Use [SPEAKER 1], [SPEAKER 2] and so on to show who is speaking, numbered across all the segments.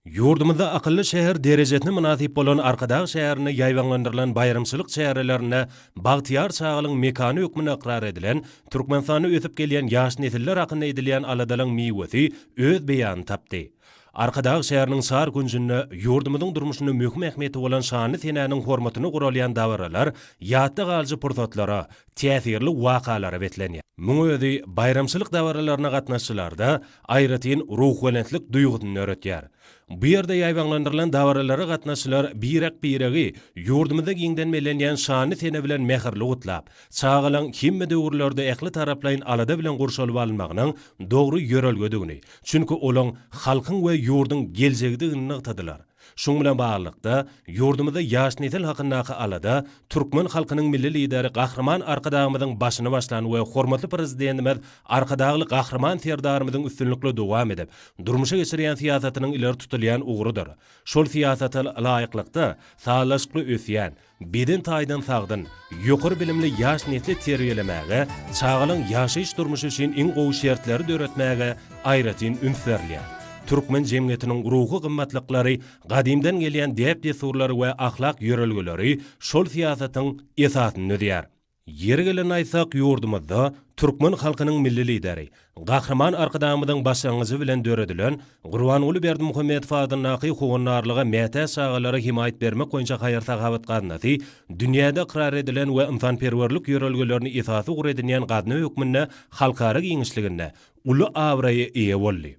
[SPEAKER 1] Ýurdumyzda akylly şäher derejesine mynasyp bolan Arkadag şäherinde ýaýbaňlandyrylan baýramçylyk çärelerinde bagtyýar çagalygyň mekany hökmünde ykrar edilen, Türkmenistanda ösüp gelýän ýaş nesiller hakynda edilýän aladalygyň miwesi öz beýanyny tapdy. Arkadag şäheriniň çar künjünde ýurdumyzyň durmuşynda möhüm ähmiýeti bolan şanly senäniň hormatyna guralýan dabaralar ýatda galyjy pursatlara, täsirli wakalara beslenýär. Muň özi baýramçylyk dabaralaryna gatnaşyjylarda aýratyn ruhubelentlik duýgusyny döretýär. Bu ýerde ýaýbaňlandyrylan dabaralara gatnaşyjylar birek-biregi ýurdumyzda giňden bellenýän şanly sene bilen mähirli gutlap, çagalaň hemme döwürlerde ähli taraplaýyn alada bilen gurşalyp alynmagynyň dogry ýörelgedigini, çünki olaň halkyň we ýurduň geljegidigini nygtadylar. Şunuň bilen baglylykda, ýurdumyzda ýaş nesil hakyndaky alada türkmen halkynyň Milli Lideri Gahryman Arkadagymyzyň başyny başlan we hormatly Prezidentimiz Arkadagly Gahryman Serdarymyzyň üstünlikli dowam edip, durmuşa geçirýän syýasatynyň ileri tutulýan ugrudyr. Şol syýasata laýyklykda, sazlaşykly ösýän, Beden taýdan sagdyn, ýokary bilimli ýaş nesli terbiýelemäge, çagalaryň ýaşaýyş-durmuşy üçin iň gowy şertleri döretmäge aýratyn üns berilýär. Türkmen jemgyýetiniň ruhy gymmatlyklary, gadymdan gelýän däp-dessurlary we ahlak ýörelgeleri şol syýasatyň esasyny düzýär. Ýeri gelende aýtsak, ýurdumyzda türkmen halkynyň Milli Lideri, Gahryman Arkadagymyzyň başlangyjy bilen döredilen Gurbanguly Berdimuhamedow adyndaky Howandarlyga mätäç çagalara hemaýat bermek boýunça haýyr-sahawat gaznasy dünýäde ykrar edilen we ynsanperwerlik ýörelgelerini esas ugur edinýän gazna hökmünde halkara giňişliginde uly abraýa eýe boldy.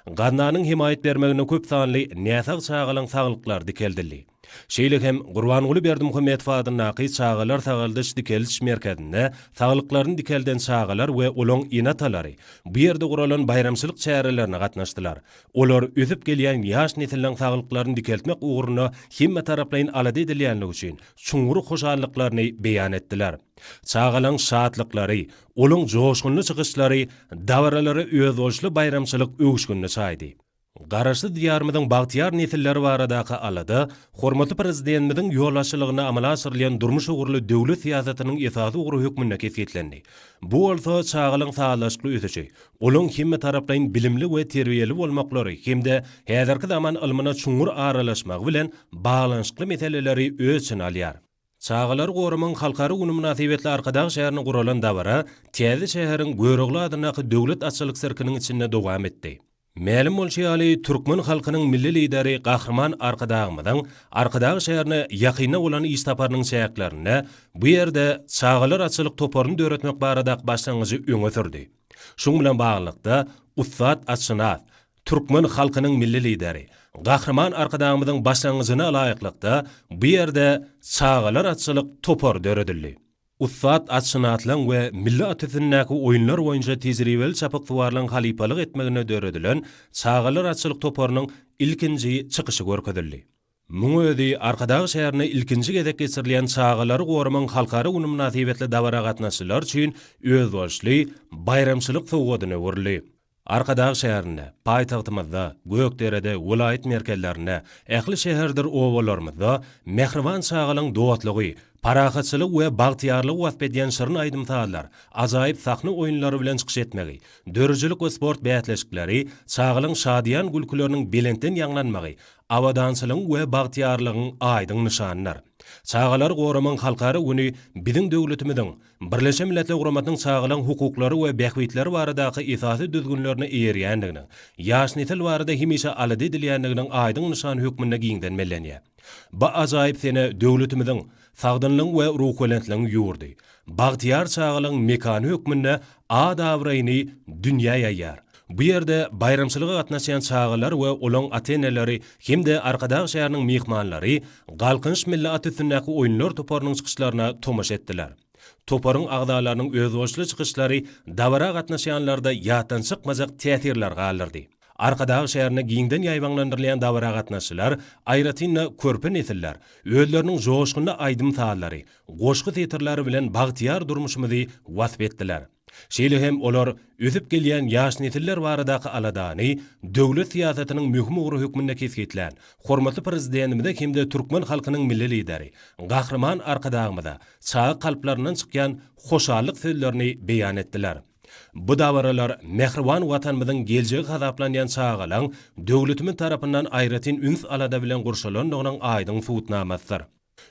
[SPEAKER 1] Gaznanyň hemaýat bermeginde köp sanly näsag çagalaň saglyklary dikeldildi. Şeýle hem Gurbanguly Berdimuhamedow adyndaky Çagalar sagaldyş-dikeldiş merkezinde saglyklaryny dikelden çagalar we olaň ene-atalary bu ýerde guralan baýramçylyk çärelerine gatnaşdylar. Olar ösüp gelýän ýaş nesiliň saglyklaryny dikeltmek ugrunda hemmetaraplaýyn alada edilýänligi üçin çuňňur hoşallyklaryny beýan etdiler. Çagalaň şatlyklary, olaň joşgunly çykyşlary dabaralara özboluşly baýramçylyk öwüşginini çaýdy. Garaşsyz Diýarymyzyň bagtyýar nesilleri baradaky alada hormatly Prezidentimiziň ýolbaşçylygynda amala aşyrylýan durmuş ugurly döwlet syýasatynyň esasy ugry hökmünde kesgitlendi. Bu bolsa çagalyň sazlaşykly ösüşi, olaň hemmetaraplaýyn bilimli we terbiýeli bolmaklary hem-de häzirki zaman ylmyna çuňňur aralaşmagy bilen baglanyşykly meseleleri öz içine alýar. Çagalary goramagyň halkara güni mynasybetli Arkadag şäherinde guralan dabara täze şäheriň Görogly adyndaky Döwlet atçylyk sirkiniň içinde dowam etdi. Mälim bolşy ýaly, türkmen halkynyň Milli Lideri Gahryman Arkadagymyzyň Arkadag şäherine ýakynda bolan iş saparynyň çäklerinde bu ýerde Çagalar atçylyk toparyny döretmek baradaky başlangyjy öňe sürdi. Şuň bilen baglylykda, ussat atşynas, Türkmen halkynyň Milli Lideri, Gahryman Arkadagymyzyň başlangyjyna laýyklykda, bu ýerde Çagalar atçylyk topary döredildi. Ussat atçyny atlaň we milli at üstündäki oýunlar boýunça tejribeli çapyksuwarlaryň halypalyk etmeginde döredilen Çagalar atçylyk toparynyň ilkinji çykyşy görkezildi. Muň özi Arkadag şäherinde ilkinji gezek geçirilýän Çagalary goramagyň halkara güni mynasybetli dabara gatnaşyjylar üçin özboluşly baýramçylyk sowgadyna öwrüldi. Arkadag şäherinde, paýtagtymyzda, Gökderede, welaýat merkezlerinde, ähli şäherdir obalarymyzda mähriban çagalaryň dostlugy, parahatçylygy we bagtyýarlygy wasp edýän şirin aýdym-sazlar, ajaýyp sahna oýunlary bilen çykyş etmegi, döredijilik we sport bäsleşikleri, çagalaryň şadyýan gülküleriniň belentden ýaňlanmagy abadançylygyň we bagtyýarlygyň aýdyň nyşanydyr. Çagalary goramagyň halkara güni biziň döwletimiziň Birleşen Milletler Guramasynyň Çagalaryň hukuklary we bähbitleri baradaky esasy düzgünlerine eýerýändiginiň, ýaş nesil barada hemişe alada edilýändiginiň aýdyň nyşany hökmünde giňden bellenýär. Bu ajaýyp sene döwletimiziň Sagdynlygyň we ruhubelentligiň ýurdy, bagtyýar çagalygyň mekany hökmünde at-abraýyny dünýä ýaýýar. Bu ýerde baýramçylyga gatnaşýan çagalar we olaryň ata-eneleri hem-de Arkadag şäheriniň myhmanlary Galkynyş milli at üstündäki oýunlar toparynyň çykyşlaryna tomaşa etdiler. Toparyň agzalarynyň özboluşly çykyşlary dabara gatnaşýanlarda ýatdan çykmajak täsirler galdyrdy. Arkadag şäherinde giňden ýaýbaňlandyrylýan dabara gatnaşyjylar, aýratyn-da, körpe nesiller özleriniň joşgunly aýdym-sazlary, goşgy setirleri bilen bagtyýar durmuşymyzy wasp etdiler. Şeýle hem olar ösüp gelýän ýaş nesiller baradaky aladany döwlet syýasatynyň möhüm ugry hökmünde kesgitlän hormatly Prezidentimize hem-de türkmen halkynyň Milli Lideri Gahryman Arkadagymyza çaga kalplaryndan çykýan hoşallyk sözlerini beýan etdiler. Bu dabaralar mähriban Watanymyzyň geljegi hasaplanýan çagalaň döwletimiz tarapyndan aýratyn üns-alada bilen gurşalandygynyň aýdyň subutnamasydyr.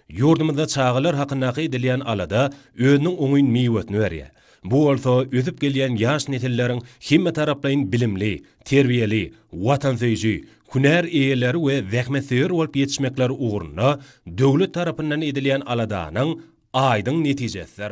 [SPEAKER 1] Ýurdumyzda çagalar hakyndaky edilýän alada özüniň oňyn miwesini berýär. Bu bolsa ösüp gelýän ýaş nesilleriň hemmetaraplaýyn bilimli, terbiýeli, watansöýüji, hünär eýeleri we zähmetsöýer bolup ýetişmekleri ugrunda döwlet tarapyndan edilýän aladanyň aýdyň netijesidir.